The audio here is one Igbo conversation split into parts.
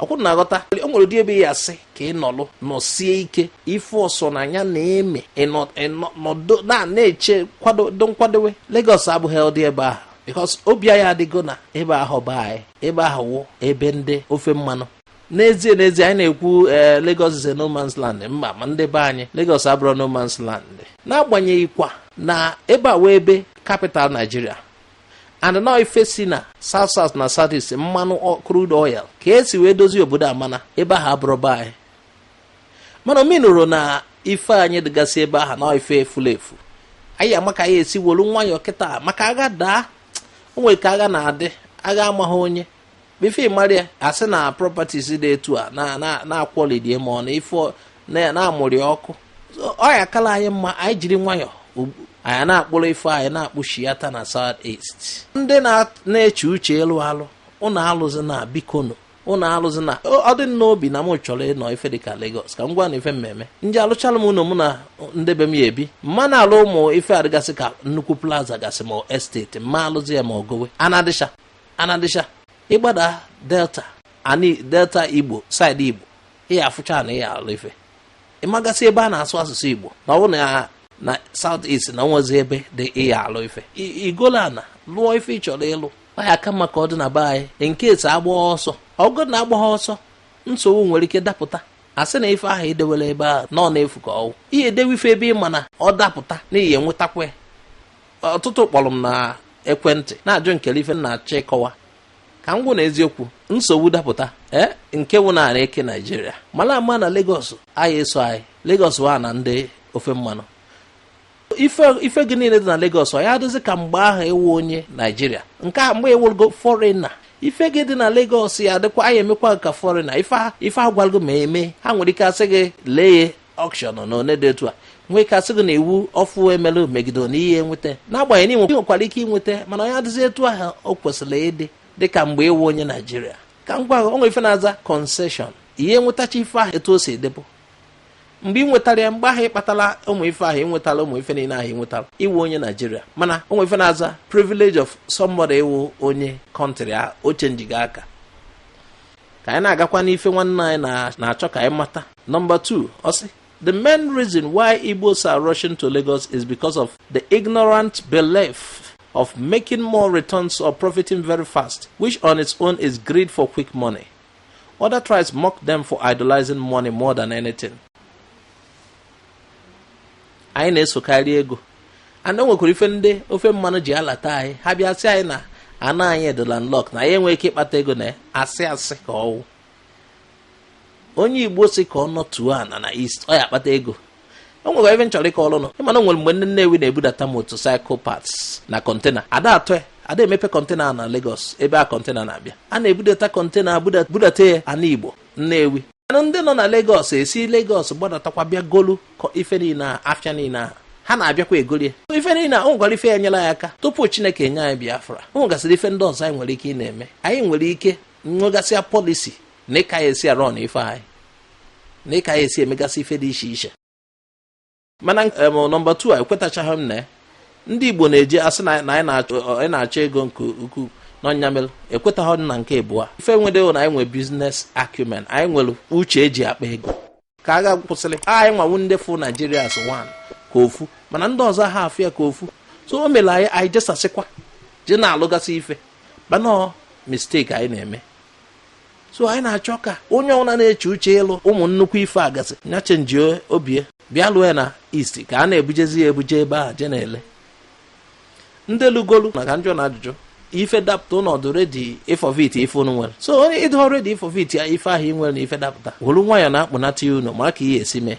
ọ kwa ụnụ na-aghọta o nwere ụdị ebe ị ya asị ka ị nọlụ nọsie ike ife ọsọ na anya na-eme nọdụ na-eche kwado nkwadowe Lagos abụghị ụdị ebe ahụ because obi anyị adịgo na ebe ahụ bụ be anyị ebe ahụ wụ ebe ndị ofe mmanụ n'ezie n'ezie anyị na-ekwu eh, Lagos is a no man's land mba ma ndị be anyị Lagos abụrọ no man's land n'agbanyeghị kwa na ebe a wụ ebe capital Naijiria and na ọ ife si na south south na south east mmanụ crude oil ka e si wee dozie obodo a mana ebe ahụ abụrọ be anyị mana ọ meanurọ na ife anyị dịgasị ebe ahụ na ọ ife efulu efu anyị ya ama ka anyị esi wolu nwayọọ kịta maka agha daa o nwere ka agha na-adị agha amaghị onye before ị mara ya asị na properties dị etu a na-akwọlidie ma ọ na ife na-amụrị ọkụ ọ ya akala anyị mma anyị jiri nwayọọ anyị na-akpụrụ ife anyị na-akpụchiata na south east ndị na-eche uche ịlụ alụ ụnụ alụzina bikonu ụnụ alụzina ọ dị m n'obi na m chọrọ ịnọ ife dịka Lagos ka m gwa ụnụ ife mmemme ndị alụchala m ụnọ mụ na ndị be m ya ebi mana alụ ụmụ ife a dịgasị ka nnukwu plaza gasị ma estate m ma alụzi ya ma ogowe ana dịcha ana dịcha ị gbada delta delta igbo side igbo ị ya afụcha ana ị ya alụ ife ị magasị ebe a na-asụ asụsụ igbo na ọ wụ na south east na o nwezi ebe dị ị ya alụ ife i golu ana lụọ ife ị chọrọ ịlụ ọ ya aka mma ka ọ dị na be anyị nke esi agba ọsọ ọgụ na agba ọsọ nsogbu nwere ike dapụta asị na ife ahụ i dewelu ebe ahụ na ọ na-efu ka ọ wụ ị ya edewe ife ebe ị ma na ọ dapụta na ị ya enwetakwa ọtụtụ kpọrọ m na ekwentị na-ajụ m kele ife m na-achọ ịkọwa ka m gwa ụnụ eziokwu nsogbu dapụta ee nke wụ na e kee naijiria mara ama na Lagos a ya eso anyị Lagos wụ ana ndị ofe mmanụ ife gị niile dị na Lagos ọ ya adịzi ka mgbe ahụ ị wụ onye naijiria nke a mgbe ị wụgo foreigner ife gị dị na Lagos ya adịkwa a ya emekwa ka foreigner ife agwalgo ma eme ha nwere ike asị gị lee ya auction na one dị etu a nwee ike asị gị na iwu ọfụụ e melu megide na ị ya enweta n'agbanyeghị na ị nwekwara ike inweta mana ọ ya adịzi etu ahụ o kwesịrị ịdị dịka mgbe ị wụ onye naijiria ka m gwa gị o nwe ife a na-aza concession ị ya enwetacha ife ahụ etu o si dịbụ mgbe ị nwetara ya mgbe ahụ ị kpatara ụmụ ife ahụ ị nwetara ụmụ ife niile ahụ ị nwetara ị wụ onye naijiria mana o nwe ife a na-aza privilege of somebody ịwụ onye country a o chenjigo aka ka anyị na-agakwa n'ife nwanne anyị na-achọ ka anyị mata number 2 ọ sị The main reason why Igbos are rushing to Lagos is because of the ignorant belief of making more returns or profiting very fast, which on its own is greed for quick money. Other tribes mock them for idolizing money more than anything. anyị na-esokarị ego and o nwekwara ife ndị ofe mmanụ ji alata anyị ha bịa sị anyị na ana anyị dị landlock na anyị enweghị ike ịkpata ego na asị asị ka ọwụ onye igbo si ka ọ nọtuo ana na east ọ ya akpata ego o nwere ife m chọrọ ịkọọlụ ụnụ ị ma na o nwere mgbe ndị nnewi na-ebudata motorcycle parts na kọntena ada atọ ya ada emepe kọntena na Lagos ebe a kọntena na-abịa a na-ebudata kọntena budata ya ana igbo nnewi mana ndị nọ na Lagos esi Lagos gbadatakwa bịa golu ife niile ahụ afịa niile ahụ ha na-abịakwa egolie ife niile a o nwekwara ife ya nyela anyị aka tupu Chineke enye anyị Biafra o nwegasịrị ife ndị ọzọ anyị nwere ike ịna-eme anyị nwere ike nwegasịa pọlisi na ịka ya esi arụ na ife anyị na ịka ya esi emegasị ife dị iche iche mana nọmba 2 ekwetachaghị m na ya ndị igbo na-eji asị na anyị na-achọ ego nke ukwuu na ọ nya mere ekwetaghị na nke abụọ ife nwedewo na anyị nwere business acumen anyị nwere uche eji akpa ego ka agha kwụsịrị anyị nwa wụ ndị fụ naijiria as one ka ofu mana ndị ọzọ ha afụ ya ka ofu so o mere anyị anyị jesasịkwa je na-alụgasị ife mana mistake anyị na-eme so anyị na-achọ ka onye ọbụla na-eche uche ịlụ ụmụ nnukwu ife a ga-asị nya chenjie obie bịa lụọ ya na east ka a na-ebujezi ya ebuje ebe a je na-ele ndị lugolu na ka m jụọ unu ajụjụ ife dapụta unu ọ dị ready ịforfeit ife unu nwere so onye ị dịọ ready ịforfeit ya ife ahụ ị nwere na ife dapụta wolu nwayọ na-akpụnata ya unu ma ka ihe esi mee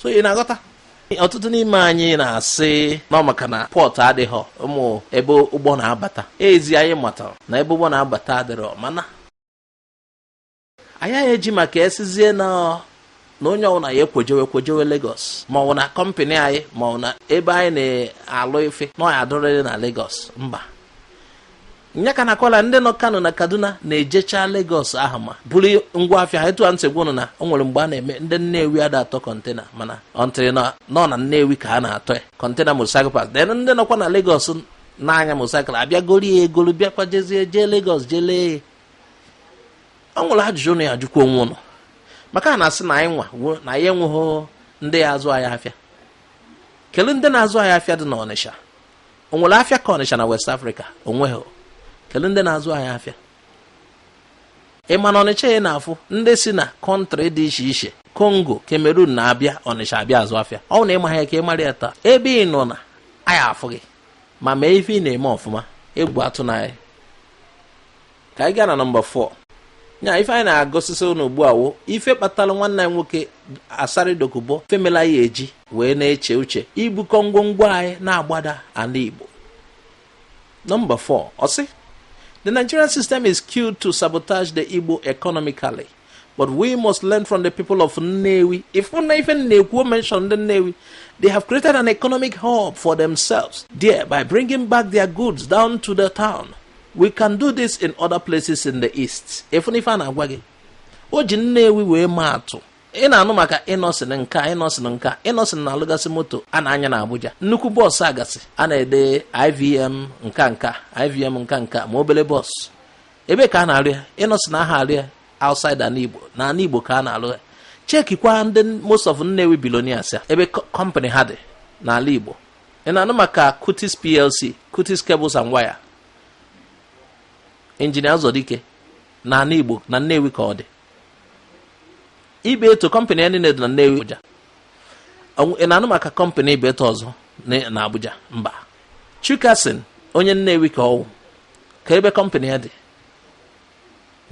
so ị na-aghọta ọtụtụ n'ime anyị na-asị na ọ maka na port adịghị ụmụ ebe ụgbọ na-abata ezie anyị matara na ebe ụgbọ na-abata adịrọ mana anyị eji maka e sizie na na onye ọbụla ya ekwejewe kwejewe Lagos ma ọ bụ na kọmpanị anyị ma ọ bụ na ebe anyị na-alụ ife na ọ ya adịrịrị na Lagos mba nya ka na-akọla ndị nọ kano na kaduna na-ejecha Lagos ahụ ma buru ngwa afịa ha etu a m si gwa ụnụ na o nwere mgbe a na-eme ndị nnewi ada atọ kọntena mana until na ọ na nnewi ka a na-atọ ya kọntena motorcycle parts then ndị nọkwa na Lagos na-anya motorcycle abịa goru ya egolu bịakwa jezie jee Lagos jee lee o nwere ajụjụ ụnụ ya ajụkwa onwe ụnụ maka a na-asị na anyị nwa na anyị enweghị ndị ya azụ anyị afịa kedu ndị na-azụ anyị afịa dị n'ọnịsha o nwere afịa ka ọnịcha na west africa o nweghị kedu ndị na-azụ anyị afịa ị ma na ọnịcha ị na-afụ ndị si na kọntrị dị iche iche kongo kamerun na-abịa ọnịcha abịa azụ afịa ọ na ị maha ka ị mara ya taa ebe ị nọ na a ya afụ gị ma mee ife ị na-eme ọfụma egwu atụna anyị ka anyị gaa na nọmba 4 nya ife anyị na-agụsịsịrị ụnụ ugbu a wụ ife kpatara nwanne anyị nwoke asari dokubo ife mela anyị eji wee na-eche uche ibukọ ngwongwo anyị na-agbada ala igbo nọmba 4 ọ sị the nigerian system is skewed to sabotage the igbo economically but we must learn from the people of Nnewi. Ị fụna ife m na-ekwu o mentioned Nnewi, they have created an economic hub for themselves there by bringing back their goods down to the town. We can do this in other places in the east. Ị fụna ife a m na-agwa gị, o ji Nnewi wee maa atụ. ị na-anụ maka Innoson nke a Innoson nke a Innoson na-alụgasị moto a na-anya na Abuja nnukwu bọọsụ a gasị a na-ede IVM nke a nke a IVM nke a nke a ma obele bọọsụ ebee ka a na-arụ ya innoson aha arụ ya outside ana igbo na ana igbo ka a na-arụ ya chekikwa ndị most of nnewi billionaires ya ebe kọmpanị ha dị n'ala igbo ị na-anụ maka cutix plc cutix cables and wire injinia ụzọdike na ana igbo na nnewi ka ọ dị ibeto kọmpanị ya niile dị na nnewi abuja ị na-anụ maka kọmpanị ibeto ọzọ na abuja mba chicason onye nnewi ka ọwụ ka ebe kọmpanị ya dị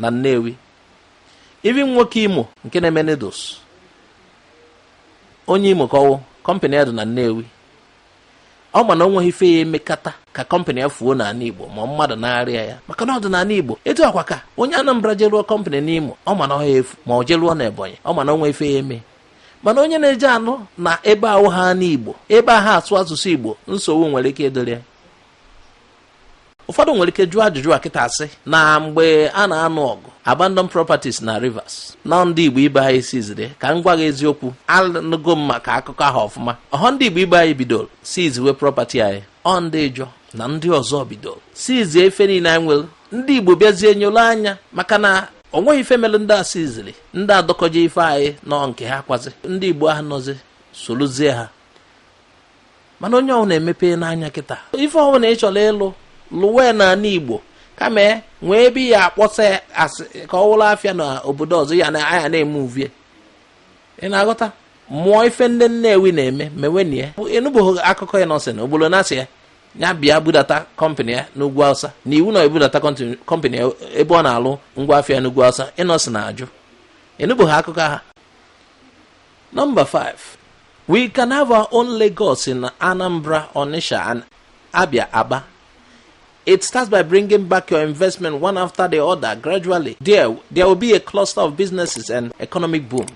na Nnewi even nwoke Imo nke na-eme noodles onye Imo ka ọwụ kọmpanị ya dị na Nnewi ọ ma na o nweghị ife ya emekata ka kọmpanị ya fuo na ana Igbo ma ọ mmadụ narịa ya maka na ọ dị na ana Igbo etu a kwa ka onye Anambra je rụọ kọmpanị n'Imo ọ ma na ọ ha efu ma ọ je rụọ na Ebonyi ọ ma na o nwee ife ya eme mana onye na-eje alụ na ebe awụha ana Igbo ebe aha asụ asụsụ Igbo nsogbu nwere ike ịdịrị ya ụfọdụ nwere ike jụọ ajụjụ a kịta sị na mgbe a na-anụ ọgụ abandon properties na rivers na ọ ndị igbo ibe anyị siziri ka m gwa gị eziokwu anụgo m maka akụkọ ahụ ọfụma ọhọ ndị igbo ibe anyị bidoro siziwe property anyị ọ ndị ịjọ na ndị ọzọ bidoro sizie ife niile anyị nwere ndị igbo bịazie nyolu anya maka na o nweghị ife mere ndị a siziri ndị adọkọje ife anyị nọ nke ha kwazi ndị igbo ahụ nọzi soluzie ha mana onye ọwụna emepena anya kịta ife ọwụna ị chọrọ ịlụ lụwe na ana igbo kama e nwee ebe ya akpọsa asị ka ọ wụrụ afịa na obodo ọzọ ya na anya na-eme uvie ị na-aghọta mụọ ife ndị nnewi na-eme mewenụ ya ị nụbeghị akụkọ innoson obodo na-asị ya ya bịa budata kọmpanị ya n'ugwu awụsa na iwu na ebudata kọmpanị ebe ọ na-alụ ngwa afịa n'ugwu awụsa innoson ajụ ị nụbeghị akụkọ ha Number five, we can have our own Lagos in Anambra, Onitsha, and Abia Aba. It starts by bringing back your investment one after the other gradually. There will be a cluster of businesses and economic boom.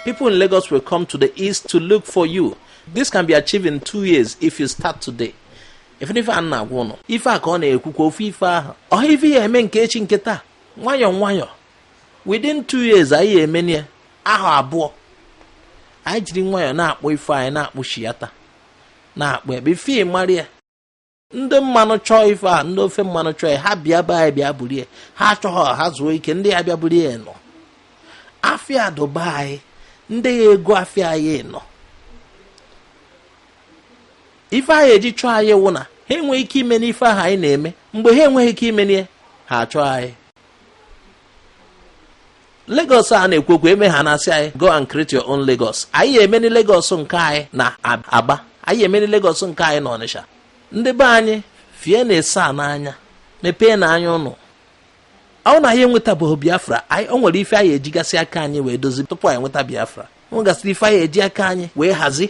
People in Lagos will come to the east to look for you. This can be achieved in two years if you start today. Ị fụna ife a m na-agwa ụnụ ife a ka ọ na-ekwukwa ofu ife ahụ ọhọ ife ya eme nke echi nke taa nwayọọ nwayọọ within two years anyị ya-emeni ya ahọ abụọ anyị jiri nwayọọ na-akpụ ife anyị na-akpụ shiyata na-akpụ ebe ife mara ya ndị mmanụ chọọ ife a ndị ofe mmanụ chọọ ya ha bịa be anyị bịa burie ha achọghọ ha zuo ike ndị ya-abịa burie ya nọ afịa dụ be anyị ndị ya-ego afịa anyị nọ ife a ya-eji chọọ anyị wụ na ha enweghị ike imeni ife ahụ anyị na-eme mgbe ha enweghị ike imeni ihe ha achọọ anyị Lagos a na-ekwu okwu e mee ha na-asị anyị go and create your own Lagos anyị ya-emeni Lagos nke anyị na Aba anyị ya-emeni Lagos nke anyị na Ọnịsha ndị be anyị fie na-ese a n'anya mepeenụ anya ụnụ ọ na anyị enwetabeghị Biafra anyị o nwere ife anyị ejigasị aka anyị wee dozi tupu anyị nweta Biafra o nwegasịrị ife anyị eji aka anyị wee hazi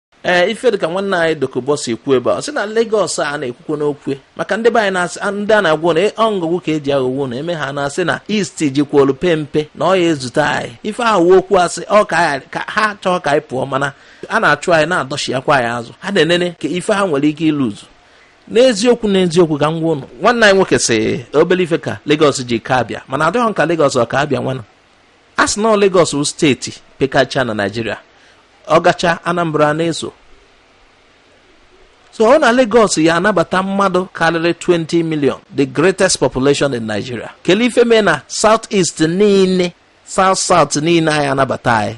ee eh, ife dịka nwanne anyị Dokubo si ekwu ebe ọ sị na Lagos a na-ekwukwo n'okwu maka ndị be anyị na-asị ndị a na-agwa ụnụ ọ aghụghọ ka eji aghọgbu ụnụ e mee ha na-asị na East jikwolu pempe na ọ ya-ezute anyị ife ahụ wụ okwu asị ọ ka ha chọọ ka anyị pụọ mana a na-achụ anyị a na-adọchiakwa anyị azụ ha na-enene ka ife ha nwere ike ịlụzu n'eziokwu n'eziokwu ka m gwa ụnụ nwanne anyị nwoke sị obele ife ka Lagos ji ka Abịa mana adịghị ka Lagos ọ ka Abịa nwana a sị na Lagos wụ steeti pekacha na Naịjirịa ọ gachaa Anambra na-eso so ọ na Lagos ya-anabata mmadụ karịrị 20 million the greatest population in Nigeria kelee ife mee na South East niile South South niile ayaghị anabata anyị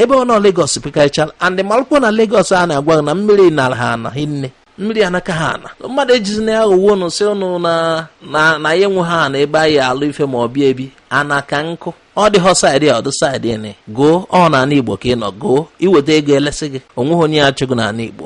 ebe ọ nọ Lagos pekarịchara and malụkwo na Lagos a na-agwa gị na mmiri nara ha ana hinne mmiri anaka ha ana mmadụ ejizina ya ghọwo ụnụ sị ụnụ na anyị enweghị ana ebe anyị ya-alụ ife ma ọ bụ ebi ana ka nkụ ọ dịghọ saịdị a ọ dụ saịdị nị goo ọ na ana igbo ka ị nọ goo i weta ego e lesị gị onweghị onye ya-achụ gụ na ana igbo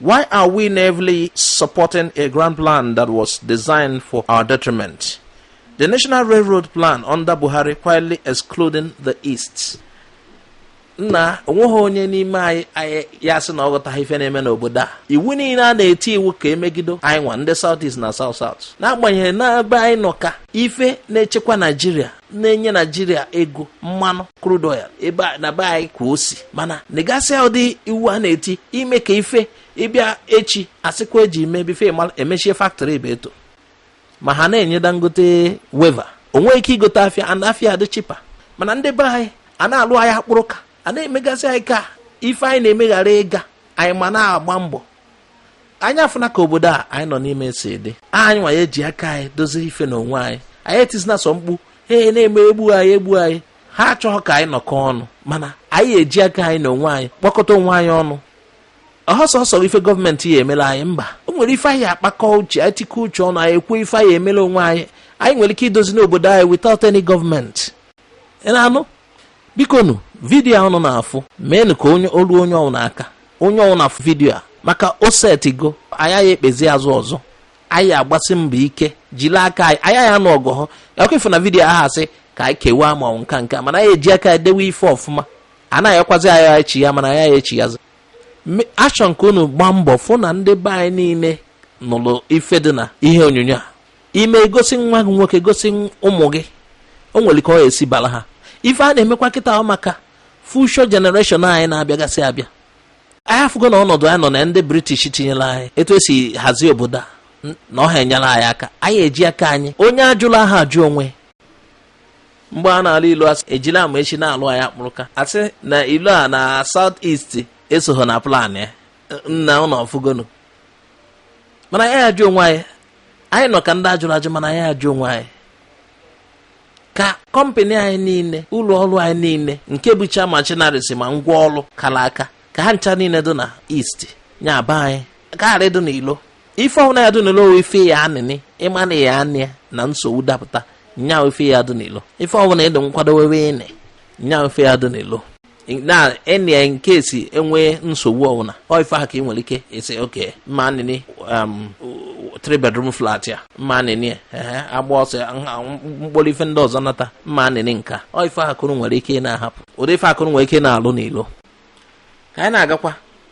Why are we naively supporting a grand plan that was designed for our detriment? The National Railroad Plan under Buhari quietly excluding the East. nna onweghị onye n'ime anyị anyị ya-asị na ọ ghọtaghị ife na-eme n'obodo a iwu niile a na-eti iwu ka e megido anyị nwa ndị South East na South South n'agbanyeghị na ebe anyị nọ ka ife na-echekwa Naijiria na-enye naijiria ego mmanụ crude oil ebe na be anyị ka o si mana negasịa ụdị iwu a na-eti ime ka ife ị bịa echi a sịkwa eji mebi ife e mechie faktori ebe etọ ma ha na-enye Dangote waiver o nwee ike igote afịa and afịa adị cheaper mana ndị be anyị a na-alụ anyị akpụrụ ka a na-emegasị anyị ka ife anyị na-eme ghara ịga anyị ma na-agba mbọ anyị afụna ka obodo a anyị nọ n'ime si dị anyị nwa ya eji aka anyị dozie ife na onwe anyị anyị etizina sọ mkpu ee na-emegbu anyị egbu anyị ha achọghị ka anyị nọkọ ọnụ mana anyị ya eji aka anyị na onwe anyị kpọkọta onwe anyị ọnụ ọ sọsọ ife gọọmenti ya emela anyị mba o nwere ife anyị ya akpakọ uche anyị tikọ uche ọnụ anyị ekwuo ife anyị ya emela onwe anyị anyị nwere ike idozi n'obodo anyị without any government ị na-anụ bikonu vidiyo a unu na-afụ meenụ ka o lu onye ọwụna aka onye ọwụna vidiyo a maka o setigo anyị aya ekpezi azụ ọzọ anyị ya agbasi mbọ ike jiri aka anyị anyị aya anụ ọgụ ọ họ ọkụ ifu na vidiyo ahụ asị ka anyị kewaa ma ọ wụ nka nka mana anyị ya eji aka edewe ife ọfụma a na-ayọkwazi anyị echi ya mana anyị echi ya achọ nke unu gbaa mbọ fụ na ndị be anyị niile nụrụ ife dị na ihe onyonyo a ime gosi nwa gị nwoke gosi ụmụ gị o nwere ka ọ esi bara ha ife a na-emekwa kịta ọ maka future generation anyị na-abịagasị abịa anyị afụgo na ọnọdụ anyị nọ na ndị british tinyere anyị etu e si hazie obodo a na ọ ha enyela anyị aka anyị eji aka anyị onye ajụlụ aha ajụ onwe mgbe a na-alụ railway sị ejila amaechi na-alụ anyị akpụrụka asị na railway na south east esoghị na plan ya nna unu afụgonu mana anyị ajụ onwe anyị anyị nọ ka ndị ajụrụ ajụ mana anyị ajụ onwe anyị ka kọmpanị anyị niile ụlọ ọrụ anyị niile nke bụcha machineries ma ngwa ọrụ kara aka ka ha ncha niile dị na east nya aba anyị karị ịdị n'ilo ife ọwụna ya dị n'ilo ọ wụ ife ya anịnị ị ma na ya anị na nsogbu dapụta nya ife ya dị n'ilo ife ọwụna ị dị nkwadowe ịnị nya ife ya dị n'ilo na in case enwee nsogbu ọbụla ọ ife ahụ ka ị nwere ike isị okay m ma anịnị um, three bedroom flat ya m ma anịnị ehe agba ọsọ ya, nha- m kpọrọ ife ndị ọzọ nata m ma anịnị nka ọ ife ha ka unu nwere ike ị na-ahapụ ụdị ife ha ka unu nwere ike ị na-alụ n'ilo ka anyị na-agakwa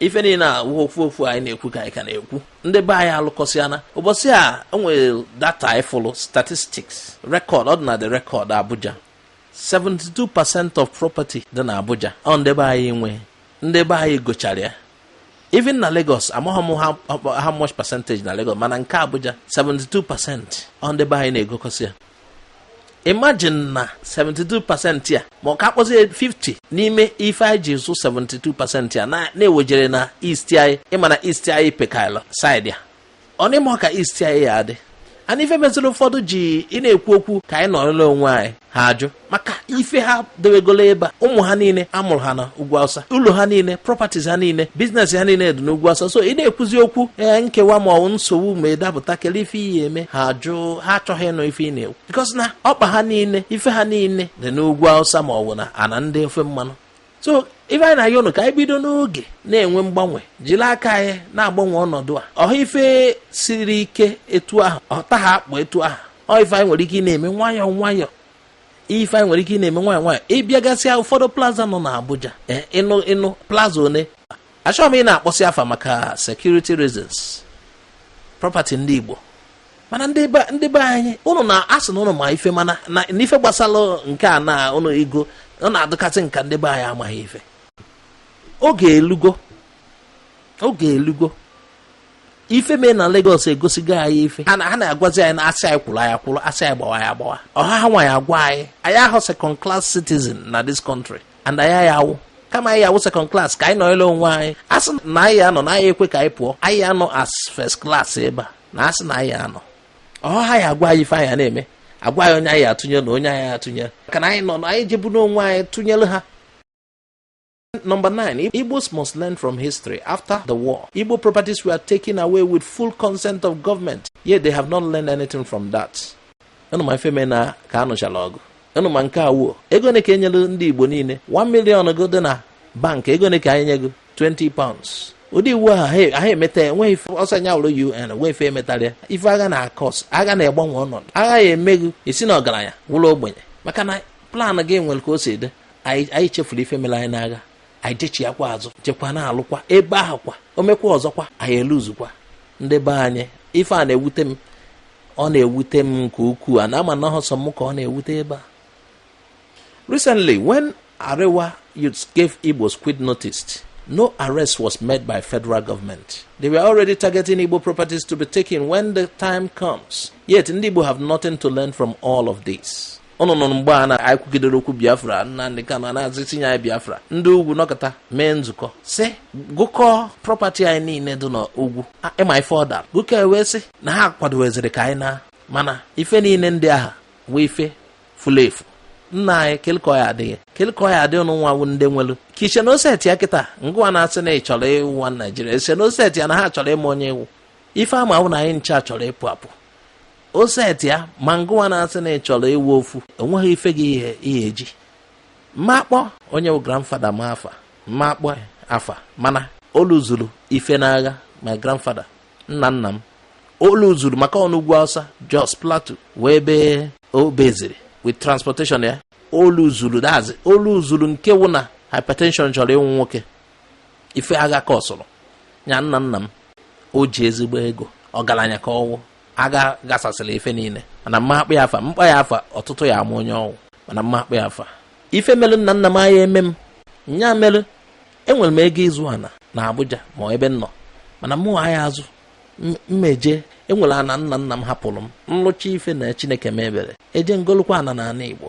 ife niile a wụ okwu okwu anyị na-ekwu ka anyị ka na-ekwu ndị be anyị alụkọsịana ụbọchị a enwere data anyị fụlụ statistics record ọ dị na the record Abuja 72 percent of property dị na Abuja ọ ndị be anyị nwe ndị be anyị gochara ya even na Lagos amaghị m how much percentage na Lagos mana nke Abuja 72 percent ọ ndị be anyị na-egokọsị ya imagine na 72 percent ya ma ọ ka a kpọzie 50 n'ime ife anyị ji zụ 72 percent ya na-ewejere na east anyị ị ma na east anyị pekaịla saịdị ya ọ na ị ma ka east anyị ya adị and ife meziri ụfọdụ ji ị na-ekwu okwu ka anyị nọrọ na onwe anyị ha ajụ maka ife ha dewegolo ebe a ụmụ ha niile a mụrụ ha na ugwu awụsa ụlọ ha niile properties ha niile business ha niile dị n'ugwu awụsa so ị na-ekwuzi okwu ee nkewa ma ọ nsogbu ma ịdapụta kele ife iyi eme ha jụụ ha achọghị ịnụ ife ị na-ekwu because na ọkpa ha niile ife ha niile dị n'ugwu awụsa ma ọ bụ na ana ndị ofe mmanụ so ife anyị na-ayọ ụnụ ka anyị bido n'oge na-enwe mgbanwe jiri aka anyị na-agbanwe ọnọdụ a ọ ha ife siri ike etu ahụ ọ taha akpụ etu ahụ ọ ife anyị nwere ike ị na-eme nwayọọ nwayọọ ife anyị nwere ike ị na-eme nwayọọ nwayọọ ị bịagasịa ụfọdụ plaza nọ n'Abuja eh, ịnụ ịnụ plaza one achọghị m ị na-akpọsị afa maka security reasons property ndị Igbo mana ndị be anyị ụnụ na-asị na ụnụ ma ife mana na ife gbasara nke a na ụnụ igo ọ na-adịkazi m ka ndị be anyị amaghị ife oge elugo oge elugo ife mee na Lagos egosigo anyị ife ha na-agwazi anyị na a sị anyị kwụrụ anyị akwụrụ a sị anyị gbawa anyị agbawa ọ ha ha nwa ya-agwa anyị anyị ahụ second class citizen na this country and anyị ya awụ kama anyị awụ second class ka anyị nọọla onwe anyị asị na anyị anọ na anyị ekwe ka anyị pụọ anyị anọ as first class ebe a na-asị na anyị anọ ọ ha ha ya-agwa anyị ife anyị na-eme agwa anyị onye anyị atụnye na onye anyị atụnye ka na anyị nọ na anyị jebu n'onwe anyị tụnyere ha Number nine, Igbos must learn from history. After the war, Igbo properties were taken away with full consent of government, yet they have not learned anything from that. Unu ma ife menụ ka a nụchala ọgụ. Unu ma nke Awo. Ego one ka e nyere ndị Igbo niile. 1 million gị dị na bank. Ego one ka a ya-enye gị 20 pounds. ụdị iwu ahụ ha emeta enweghị ife ọsọ anya ụlọ un enwe ife emetarịa ife agha na-acause agha na-egbanwe ọnọdụ agha ya-eme gị ị si na ọgaranya wụrụ ogbenye maka na plan gị nwere ka o si dị anyị chefuru ife mere anyị n'agha anyị jechiakwa azụ jekwa na-alụkwa ebe ahụ kwa o mekwa ọzọkwa anyị eluzukwa ndị be anyị ife a na-ewute m ọ na-ewute m nke ukwuu a na-ama na ọ sọ m ka ọ na-ewute ebe a recently when arewa youths gave igbos quit notice no arrest was made by federal government they were already targeting igbo properties to be taken when the time comes yet ndị igbo have nothing to learn from all of this ụnụ nụrụ mgbe a anyị kwugidere okwu biafra nnamdị kanu a nazị eti nye anyị biafra ndị ugwu nọkọta mee nzukọ sị gụkọọ property anyị niile dị n'ugwu A- ịma ife ọ dara gụkọ e wee sị na ha kwadoweziri ka anyị naa mana ife niile ndị ahụ awụ ife furu efu nna anyị kele ka ọ ya-adị kele ka ọ ya-adị ụnụ nwa wụ ndị nwelu ka iche na o setia kịta gịnwa na-asị na ị chọrọ ịwụ nwa naijiria ị sị na o setia na ha achọrọ ịma onye ị wụ ife ha ma wụ na anyị ncha chọrọ ịpụ apụ o set ya ma ngụwa na-asị na ị chọrọ ịwụ ofu enweghị ife gị i ya eji mma akpọ onye wụ grandfather m afa mma akpọ afa mana o luzuru ife n'agha my grandfather nna nna m o luzuru maka ọ nọ ugwu awụsa jos plateau wee ebe o beziri with transportation ya o luzuru that is o luzuru nke wụ na hypertension chọrọ igbu nwoke ife agha ka ọsụrụ ya nna nna m o ji ezigbo ego ọgaranya ka ọ wụ agha gasasịrị ife niile mana mma akpọ ya afa m kpọọ ya afa ọtụtụ ya ama onye ọ wụ mana mma akpọ ya afa ife melụ nna nna m anya eme m nya melụ enwere m ego ịzụ ana na Abuja ma ebe m nọ mana mụ anya azụ mma eje enwere ana nna nna m hapụrụ m m lụcha ife na Chineke mee ebere eje m golukwa ana na ana Igbo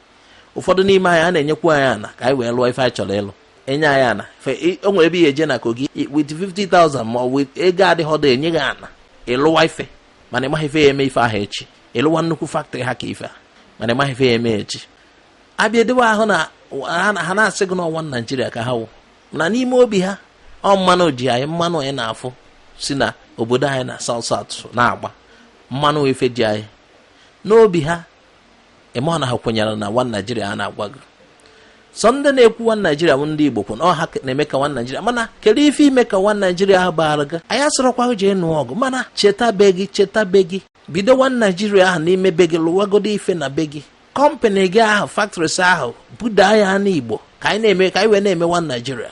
ụfọdụ n'ime anyị a na-enyekwu anyị ana ka anyị wee lụọ ife anyị chọrọ ịlụ enye anyị ana o nwere ebe i ya eje na kogi with 50,000 ma ọ bụ ego adịghọdụ enye gị ana ị lụwa ife mana ị maghị ife ya eme ife ahụ echi ị lụwa nnukwu factory ha ka ife a mana ị maghị ife ya eme echi abịa edewe ahụ na ha na-asị gị na ọ one naijiria ka ha wụ na n'ime obi ha ọ mmanụ ji anyị mmanụ anyị na-afụ si na obodo anyị na south south na-agba mmanụ ife ji anyị n'obi ha ị ma na ha kwenyere na one naijiria a na-agwa gị sọ ndị na-ekwu one naijiria bụ ndị igbo kwụ na ọha na-eme ka one naijiria mana kedu ife ime ka one naijiria ahụ baara gị anyị asịrọkwa gị jee nụọ ọgụ mana cheta be gị cheta be gị bido one naijiria ahụ n'ime be gị lụwagodo ife na be gị kọmpanị gị ahụ factories ahụ budaa ya n'igbo ka anyị wee na-eme one naijiria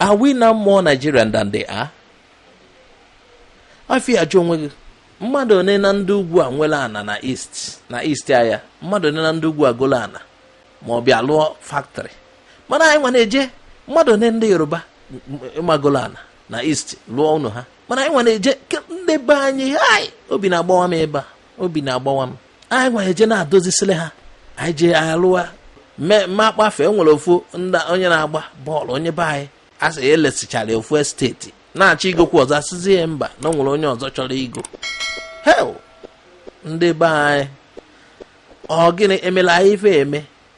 Are we now more Nigerian than they are? ife a jụọ onwe gị mmadụ one na ndị ugwu a nwere ana na na east aya mmadụ one na ndị ugwu a golu ana ma ọ bịa lụọ factory mana anyị nwa na-eje mmadụ one ndị yoruba ị ma golu ana na east lụọ ụnọ ha mana anyị nwa na-eje ndị be anyị hai obi na-agbawa m ebe a obi na-agbawa m anyị nwa na-eje na-adozisiri ha anyị je alụwa mma akpọ afa e nwere ofu onye na-agba bọọlụ onye be anyị a sị elesichara ya ofu esteti na-achọ igokwu ọzọ asịzi ya mba na o nwere onye ọzọ chọrọ igo hei ndị be anyị ọ gịnị emela anyị ife eme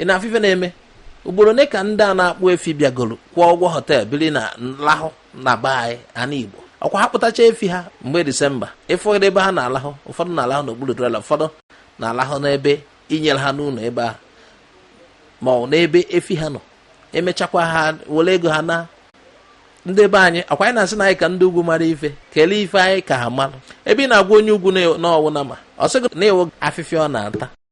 ị na-afụ ife na-eme ugboro one ka ndị a na-akpụ efi bịagoro kwụọ ụgwọ hotel biri na-alahụ na be anyị ana igbo ọkwa ha kpụtacha efi ha mgbe disemba ị fụdụ ebe ha na-alahụ ụfọdụ na-alahụ n'okpuru trela ụfọdụ na-alahụ n'ebe e nyere ha n'ụlọ ebe ahụ ma ọ n'ebe efi ha nọ emechakwa ha were ego ha naa ndị be anyị ọkwa anyị na-asị na anyị ka ndị ugwu mara ife kelee ife anyị ka ha mara ebe ị na-agwa onye ugwu na ọ wụ nama ọ sị gị na ị wụ afịfịa ọ na-ata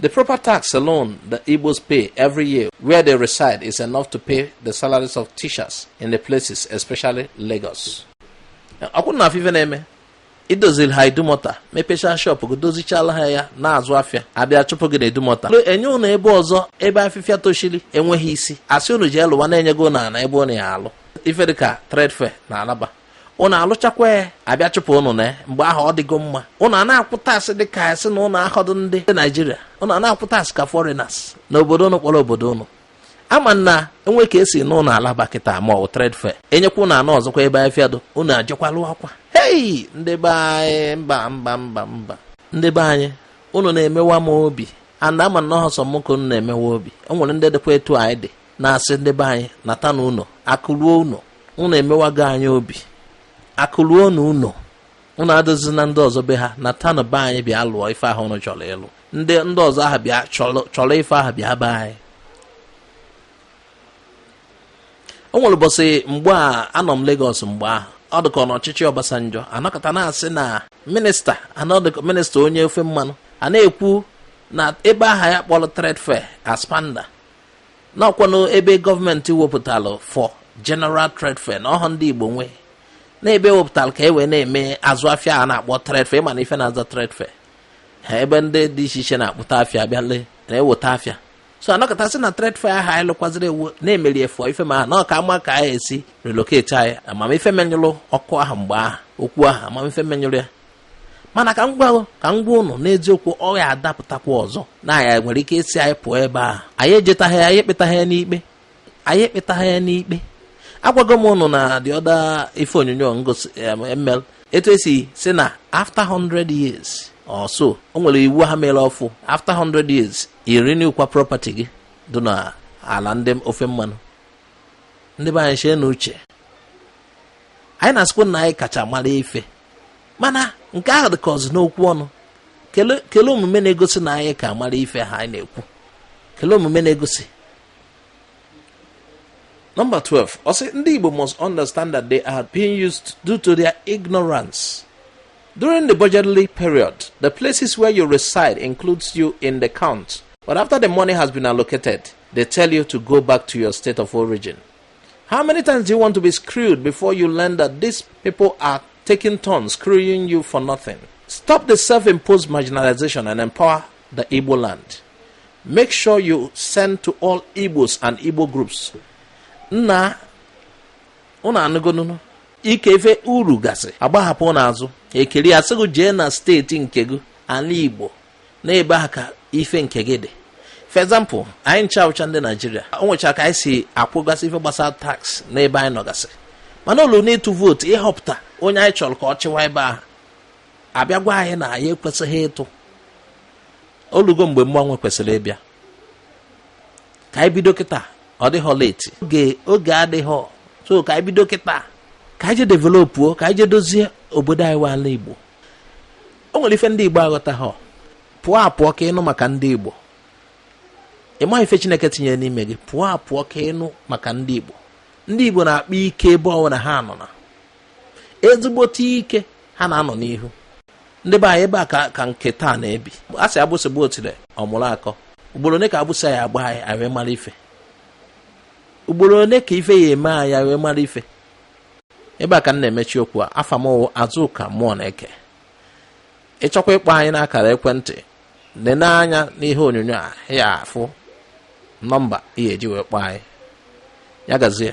The proper tax alone the Igbos pay every year where they reside is enough to pay the salaries of teachers in the places, especially Lagos. ọkwa ụnụ afụ ife na-eme idoziri ha idumọta mepechaa shọpụ gị dozichala ha ya na-azụ afịa abịa chụpụ gị na idumọta enye ụnụ ebe ọzọ ebe afịfịa tochiri enweghị isi asị ụnụ jee lụwa na enyego ụnụ ana ebe ụnụ ya alụ ife dịka trade fair na alaba ụnụ alụchakwa ya abịa chụpụ ụnụ na mgbe ahụ ọ dịgo mma ụnụ a na-akwụ tax dị ka asị na ụnụ ahọdụ ndị naijiria ụnụ a na-akwụ tax ka foreigners na obodo ụnụ kpọrọ obodo ụnụ ama m na enwe ka esi na ụnụ alaba kịta ma ọ wụ trade fair enyekwa ụnụ ana ọzọkwa ebe afịfịa dụ ụnụ ejekwa lụakwa hei ndị be anyị mba mba mba mba ndị be anyị ụnụ na-emewa m obi and ama m na ọ họ sọ mụ ka ụnụ na-emewa obi o nwere ndị dịkwa etu anyị dị na-asị ndị be anyị nata na ụlọ akụ ruo ụlọ ụnụ emewago anyị obi akụ ruo na ụlọ ụnụ edozina ndị ọzọ be ha nata na be anyị bịa lụọ ife ahụ ụnụ chọrọ ịlụ ndị ndị ọzọ ahụ bịa chọrọ ife ahụ bịa be anyị o nwere ụbọchị mgbe a anọ m Lagos mgbe ahụ ọ dịka na ọchịchị Obasanjo anọkata na-asị na minista anọdịka minista onye ofe mmanụ a na-ekwu na ebe aha ya kpọrọ trade fair aspanda na ọkwanụ ebe gọọmenti wepụtara for General Trade Fair na ọ họ ndị Igbo nwe na ebe e wepụtara ka e wee na-eme azụ afịa a na-akpọ trade fair ị ma na ife na-aza trade fair ha ebe ndị dị iche iche na-akpụta afịa bịa lee na-eweta afịa so anọkata sị na trade fair ahụ anyị lụkwaziri ewu na-emeri efu ife ma na ọka ama ka anyị esi relocate anyị ama m ife menyụrụ ọkụ ahụ mgbe ahụ okwu ahụ ama m ife menyụrụ ya mana ka m gwa ka m gwa ụnụ n'eziokwu ọ ya-adapụtakwa ọzọ na e nwere ike ịsị anyị pụọ ebe a anyị ejetaghị ya anyị ekpetaghị ya n'ikpe anyị ekpetaghị ya n'ikpe agwago m ụnụ na the other ife onyonyo ngosi m mere etu esi sị na after 100 years or so o nwere iwu ha mere ọfụ after 100 years ị renew kwa property gị dị na ala ndị ofe mmanụ ndị be anyị cheenụ uche anyị na-asịkwa na anyị kacha mara ife mana nke ahụ dị ka ọ sọ n'okwu ọnụ kelee omume na-egosi na anyị ka mara ife ha anyị na-ekwu kelee omume na-egosi Number 12. Ọ sị ndị Igbo must understand that they are being used due to their ignorance. During the budgetary period, the places where you reside includes you in the count. But after the money has been allocated, they tell you to go back to your state of origin. How many times do you want to be screwed before you learn that these people are taking turns screwing you for nothing? Stop the self imposed marginalization and empower the Igbo land. Make sure you send to all Igbos and Igbo groups. Nna, unu anụgonunu ike ife uru gasị agbahapụ n'azụ ekiri asị gị jee na steeti nke gị ala Igbo n'ebe ahụ ka ife nke gị dị for example anyị ncha wụcha ndị nigeria o nwecha ka anyị si akwụgasị ife gbasara tax n'ebe anyị nọgasị mana o luo n'ịtụ vootu ịhọpụta onye anyị chọrọ ka ọ chịwa ebe ahụ a bịa gwa anyị na anyị ekwesịghị ịtụ o lugo mgbe mgbanwe kwesịrị ịbịa ka anyị bido kịta ọ dịghọ late oge oge adịghọ so ka anyị bido kịta ka anyị je developuo ka anyị je dozie obodo anyị wụ ala igbo o nwere ife ndị igbo aghọtaghọ pụọ apụọ ka ị nụ maka ndị igbo ị ma ife chineke tinyere n'ime gị pụọ apụọ ka ị nụ maka ndị igbo ndị igbo na-akpa ike ebe ọ wụna ha nọ na ezigbote ike ha na-anọ n'ihu ndị be anyị ebe a ka nke taa na-ebi a sị agbụsị gbaa otile ọ mụrụ akọ ugboro one ka agbụsị ya agba anyị wee mara ife ugboro one ka ife ya eme anyị wee mara ife ebe a ka m na-emechi okwu a afa m wụ Azụka Mmụọneke ị chọkwa ịkpọ anyị n'akara ekwentị nene anya n'ihe onyonyo a ị ya afụ nọmba ị ya eji wee kpọọ anyị ya gazie